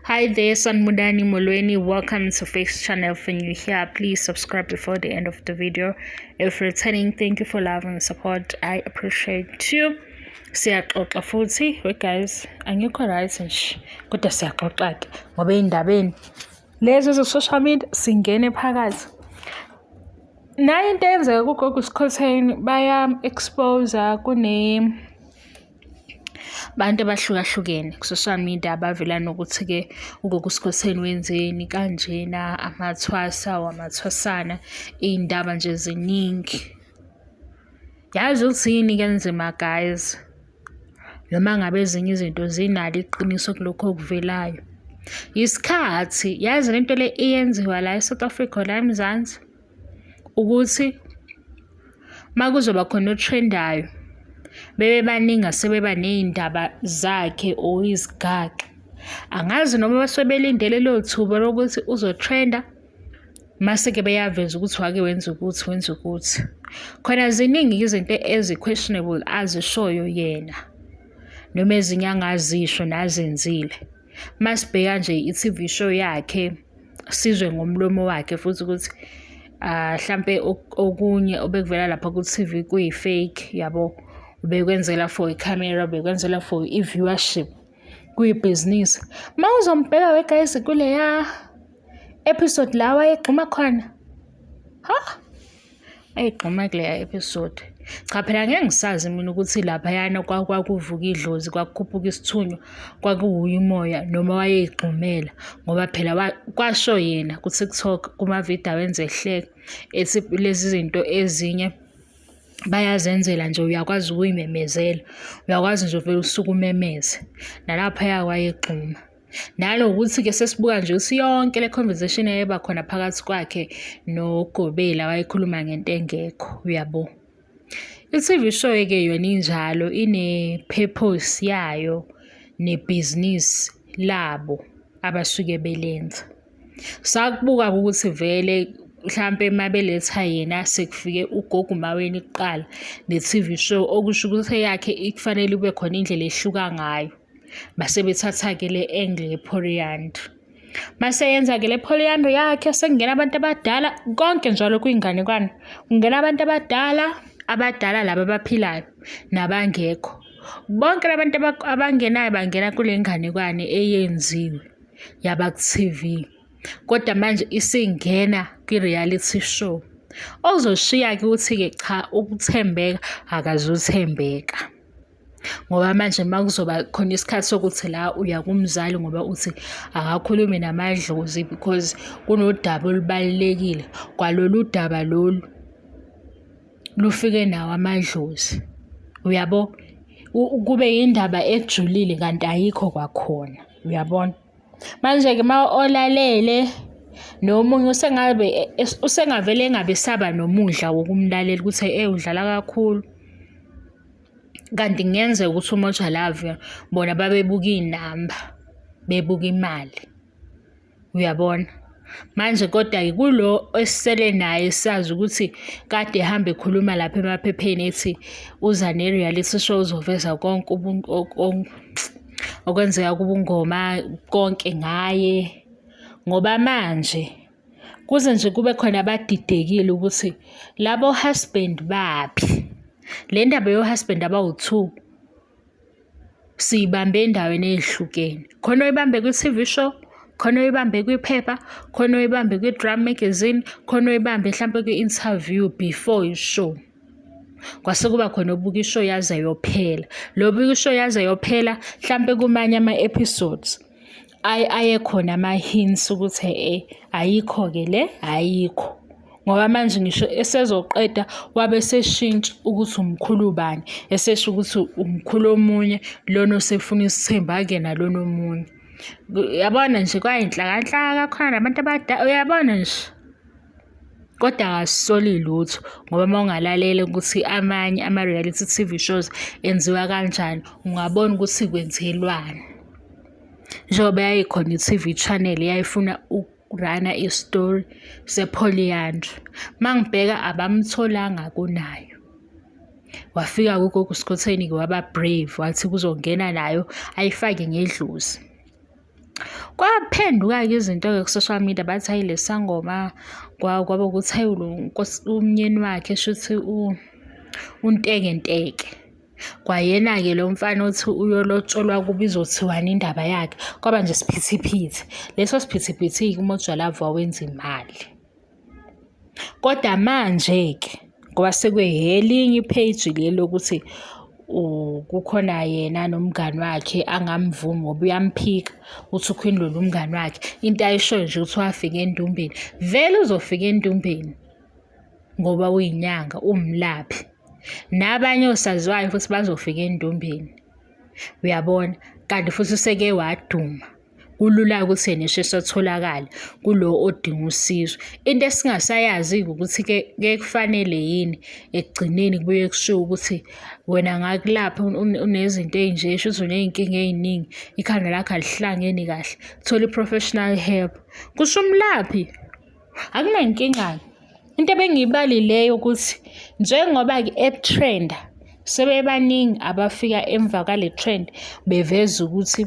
Hi there, Sanmudani Molweni. Welcome to Face Channel. If you're here, please subscribe before the end of the video. If returning, thank you for love and support. I appreciate you. siyaxoxa futhi we guys angikho right nje kodwa siyaxoxa ke ngoba ey'ndabeni lezi ze-social media singene phakathi nayo into eyenzeka kugogo sikhotheni baya-exposa kune abantu abahlukahlukene ku-social media abavela nokuthi-ke ugokusikhoseni wenzeni kanjena amathwasa wamathwasana iy'ndaba nje ziningi yazi ukuthi yini kenzima guys noma ngabe ezinye izinto zinalo iqiniso kulokho okuvelayo yisikhathi yazi lento le iyenziwa la e-south africa la emzansi ukuthi uma kuzoba khona othrendayo bebe baningi asebeba ney'ndaba zakhe or izigaxa angazi noma basuke belindele lelo thuba lokuthi uzotrenda mase-ke beyaveza ukuthi wake wenza ukuthi wenza ukuthi khona ziningi izinto ezi-questionable azishoyo yena noma ezinye angazisho nazenzile masibheka nje i-TV show yakhe sizwe ngomlomo wakhe futhi ukuthi ah mhlambe okunye obekuvela lapha ku TV kuyi fake yabo ubekwenzela for i camera ubekwenzela for i viewership kuyi business mawuzombheka we guys kuleya episode la wayegxuma khona ha Ayigqoma kuleya episode. Cha phela ngeke ngisazi mina ukuthi laphayana kwakuvuka idlozi, kwakukhuphuka isithunywa, kwakuwuye umoya noma wayeyigxumela ngoba phela kwasho yena ku-TikTok kuma-video awenza ehleka ethi lezi zinto ezinye bayazenzela nje uyakwazi ukuyimemezela, uyakwazi nje uvele usuke umemeze nalaphaya wayegxuma. nanokuthi-ke sesibuka nje ukuthi yonke le conversation eyeba khona phakathi kwakhe nogobela wayekhuluma ngento engekho uyabo i-tv show eke yona injalo ine-purpose yayo nebhizinisi labo abasuke belenza sakubuka ukuthi vele mhlampe uma beletha yena sekufike ugogo umaweni kuqala ne-tv show okusho ukuthi eyakhe ikufanele kube khona indlela ehluka ngayo base bethatha-ke le angle yephoriyandri maseyenza-ke le phoriyandri yakhe sekungena abantu abadala konke njalo kwiy'nganekwane kungena abantu abadala abadala laba abaphilayo nabangekho bonke labantu abangenayo bangena kule nganekwane eyenziwe yabaku-tv kodwa manje isingena kwi-reality show ozoshiya-ke ukuthi-ke cha ukuthembeka akazuthembeka ngoba manje uma kuzoba khona isikhathi sokuthi la uya kumzali ngoba uthi akakhulume namadlozi because kunodaba olubalulekile kwalolu daba lolu lufike nawo amadlozi uyabo kube yindaba ejulile kanti ayikho kwakhona uyabona manje-ke uma olalele nomunye usengabe usengavele engabe saba nomudla wokumlalela ukuthi ewu udlala kakhulu kanti kungenzeka ukuthi umoja love bona babebuka iy'namba bebuka imali uyabona manje kodwa-ke kulo esisele naye sazi ukuthi kade ehambe ekhuluma lapha emaphepheni ethi uza ne-reality show uzoveza konke okwenzeka kubungoma konke ngaye ngoba manje kuze nje kube khona abadidekile ukuthi labo husband baphi le ndaba yohusband abawu-two siyibambe endaweni eyehlukene khona oyibambe kwi-tv show khona oyibambe kwiphepha khona oyibambe kwi-drum magazine khona oyibambe mhlawumpe kwi-interview before ishow kwase kuba khona obuka ishow yaze yophela lo buka ishow yaze yophela mhlawumpe kumanye ama-episodes ayekhona ama-hints ukuthi e ayikho-ke le ayikho ngoba manje ngisho esezoqeda wabe seshintsha ukuthi umkhulu ubani esesho ukuthi umkhulu omunye lona osefuna isithembu akuyena lona omunye uyabona nje kwayinhlakanhlaka khona nabantu abadala uyabona nje kodwa akasisoli lutho ngoba uma ungalalele ukuthi amanye ama-reality t v shows enziwa kanjani ungabona ukuthi kwenzelwani njengoba yayikhona i-t v channel yayifuna ukurana isitori sepholiyandra uma ngibheka abamtholanga kunayo wafika kugogo usikhotheni-ke waba-brave wathi kuzongena nayo ayifake ngedlozi kwaphenduka-ke izinto-ke ku-social media bathi hayi le sangoma kwaba ukuthi hayi umnyeni wakhe shuthi untekenteke kwayena-ke lo mfana othi uyolotsholwa kuba izothiwani indaba yakhe kwaba nje siphithiphithi leso siphithiphithi-ke umojwalava wawenza imali Kodwa manje-ke ngoba sekwehelinye i-page le lokuthi kukhona yena nomngani wakhe angamvumi ngoba uyamphika uthi uQueen Lulu umngani wakhe into ayishoyo nje ukuthi wafika endumbeni vele uzofika endumbeni ngoba uyinyanga umlaphi nabanye osaziwayo futhi bazofika endumbeni uyabona kanti futhi useke waduma. kulula ukuthi nisho esotholakala kulo odinga usizo. Into esingasayazi-ke ukuthi-ke kuye kufanele yini ekugcineni kubuye kushiwo ukuthi wena ngakulapha unezinto ey'nje, shuthi uney'nkinga ey'ningi, ikhanda lakho alihlangeni kahle, thola i-professional help, kusho umlaphi. Akunankinga-ke. Into ebengiyibalileyo ukuthi njengoba-ke etrenda sebebaningi abafika emva kwale trend beveza ukuthi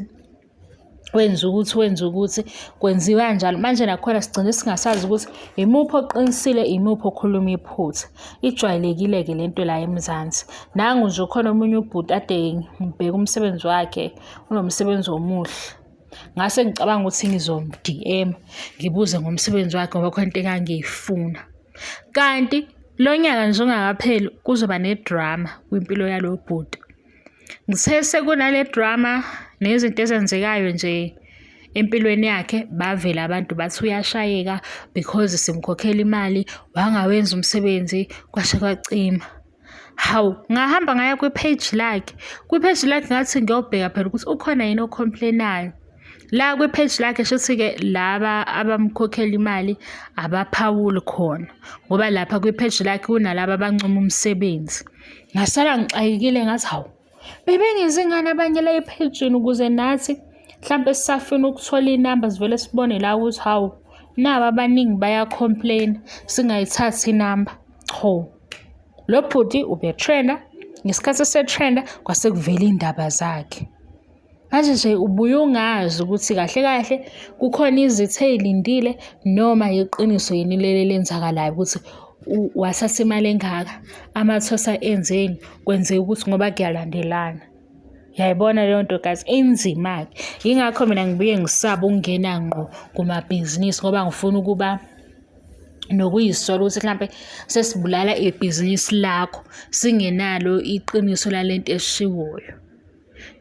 wenza ukuthi wenza ukuthi kwenziwa kanjalo manje nakhona sigcine singasazi ukuthi yimuphi oqinisile yimuphi okhuluma iphutha ijwayelekile-ke le nto la emzansi nangu nje ukhona omunye ubhuti ade ngibheka umsebenzi wakhe unomsebenzi omuhle ngase ngicabanga ukuthi ngizom-dm ngibuze ngomsebenzi wakhe ngoba khona into engangiyifuna kanti lo nyaka nje ungakapheli kuzoba nedrama kwimpilo yalo bhuti Ngithe sekunale drama nezinto ezenzekayo nje empilweni yakhe bavela abantu bathi uyashayeka because simkhokhela imali wangawenza umsebenzi kwashe kwacima hawu ngahamba ngaya kwi-page lakhe kwi-page lakhe ngathi ngiyobheka phela ukuthi ukhona yini ocomplainayo la kwi-page lakhe shuthi-ke laba abamkhokhela imali abaphawuli khona ngoba lapha kwi-page lakhe kunalaba abancoma umsebenzi ngasala ngixakekile ngathi hawu bebengenzi ngani abanye la ephejini ukuze nathi mhlawumbe sisafuna ukuthola iy'namba zivele sibone la ukuthi hawu nabo abaningi baya-complain singayithathi inamba cho lo bhuti ubetrenda ngesikhathi esetrenda kwase kuvela iy'ndaba zakhe Manje nje ubuye ungazi ukuthi kahle kahle kukhona izitha ey'lindile noma yiqiniso yini leli elenzakalayo ukuthi wathatha imali engaka, amathosa enzeni, kwenzeka ukuthi ngoba kuyalandelana. Yayibona leyo nto guys inzima-ke. Yingakho mina ngibuye ngisaba ukungena ngqo kumabhizinisi ngoba ngifuna ukuba nokuyisola ukuthi mhlampe sesibulala ibhizinisi lakho singenalo iqiniso lale nto eshiwoyo.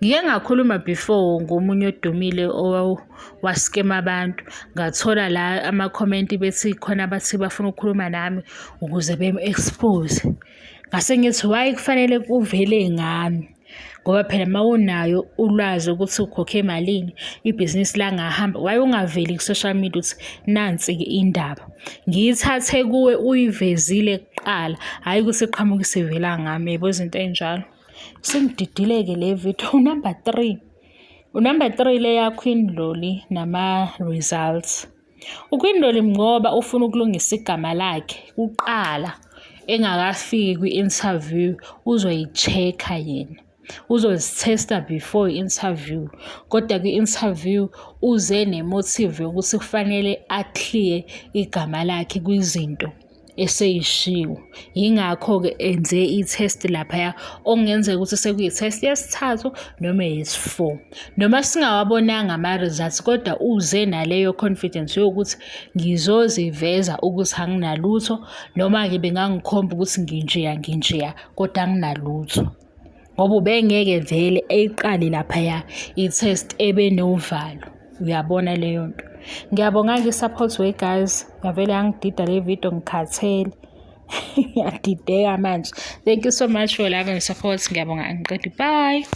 Ngike ngakhuluma before ngomunye odumile owaskema abantu ngathola la amakhomenti bethi khona abathi bafuna ukukhuluma nami ukuze bem-expose. Ngase ngithi why kufanele kuvele ngami ngoba phela uma unayo ulwazi ukuthi ukhokhe malini ibhizinisi langahamba why ungaveli ku-social media ukuthi nansi-ke indaba. Ngiyithathe kuwe uyivezile kuqala hhayi ukuthi iqhamuke isivela ngami yebo izinto ey'njalo. Singididileke le video unumber three unumber three le yakho indloli nama-results ukwindloli ngoba ufuna ukulungisa igama lakhe kuqala engakafiki kwi-interview uzoyi-check-a yena uzozithesta before i-interview kodwa kwi-interview uze ne-motive yokuthi kufanele a-clear igama lakhe kwizinto eseyishiwo yingakho-ke enze i-test laphaya okungenzeka ukuthi sekuyi-test yesithathu noma yesi-four noma singawabonanga ama-results kodwa uze naleyo confidence yokuthi ngizoziveza ukuthi anginalutho noma-ke bengangikhomba ukuthi nginjeya nginjeya kodwa anginalutho ngoba ubengeke vele eyiqale laphaya i-test ebenovalo uyabona leyo nto ngiyabonga-ke i-support way guys ngavele yangidida le video ngikhathele ngiyadideka manje thank you so much for love and support ngiyabonga angiqedi bye